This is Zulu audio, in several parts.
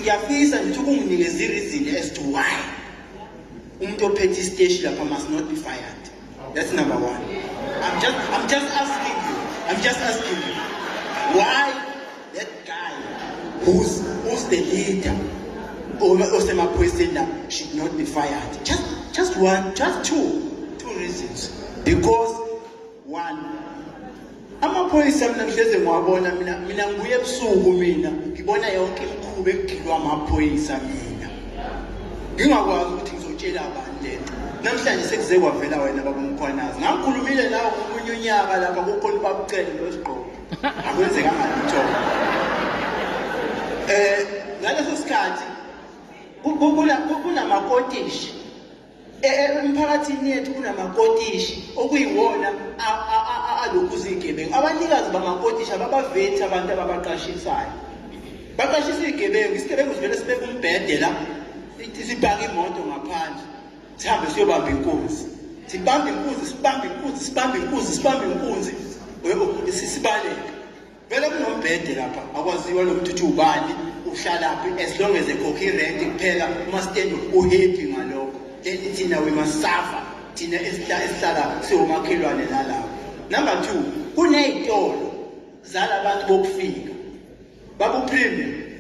ngiyafisa ngithi ukunginikeza i-reason as to why umuntu ophethe isiteshi lapha must not be fired that's number one i'm just, I'm just asking you i'm just asking you why that guy who's, who's the leader osemaphoyiseni la should not be fired just, just one just two two reasons because one amaphoyisa mina ngihleze ngiwabona mina mina ngibuye ebusuku mina ngibona yonke imikhuba ekugilwa amaphoyisa mina ngingakwazi ukuthi ngizotshela abantu lento namhlanje sekuze kwavela wena babumkhwanazi ngakhulumile nawo ngomunye unyaka lapha kukhona ubabucele nosigqoko akwenzekanga lutho um eh, ngaleso sikhathi kunamakotishi emphakathini yethu kunamakotishi okuyiwona alokhu zigebengu abanikazi bamakotishi ababavethi abantu ababaqashisayo baqashisa izigebengu isigebengu sivele sibeke umbhede la sibhake imoto ngaphandle sihambe siyobamba inkunzi sibambe inkunzi sibambe inkunzi sibambe inkunzi sibambe inkunzi sibaleke Vele kunombhede lapha akwaziwa nokuthi uthi ubani uhlalaphi as long as ekhokha irent kuphela umasitendo uhappy ngalokho then thina we must suffer thina esihlala siwomakhelwane nalapho number two kuney'tolo zalabantu bokufika babupremium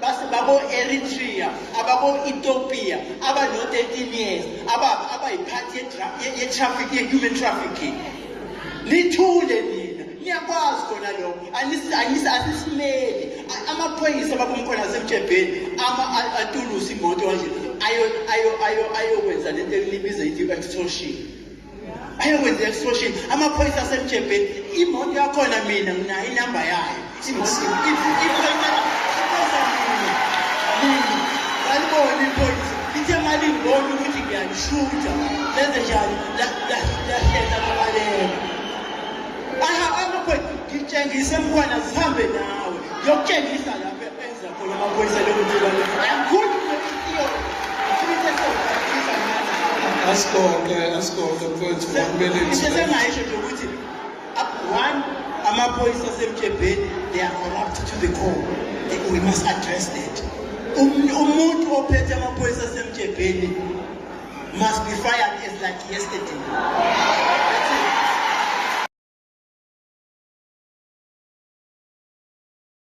base babo-eritrea ababo-ethiopia abano-13 years ababa abayiphathi ye-traffic ye-human trafficking nithule nina niyakwazi kona lokho asisimeli amaphoyisa babomkhona asemtshebheni atulusa imoto kanje ayokwenza le nto elibiza ithi i-extortion ayokwenza extortion amaphoyisa asemjebheni imoto yakhona mina nginayo inamba yayo aliboni iphoyisa lithe malingibona ukuthi ngiyalishutha lenze njani lahlehla babaleka amaphoyisa ngitshengise mntwana zihambe nawe yokutshengisa lapho asibonge asibonge mfowethu kumele sengaisho nje ukuthi one amaphoyisa asemjebheni they are corrupt to the core we must address that umuntu ophethe amaphoyisa asemjebheni must be fired as like yesterday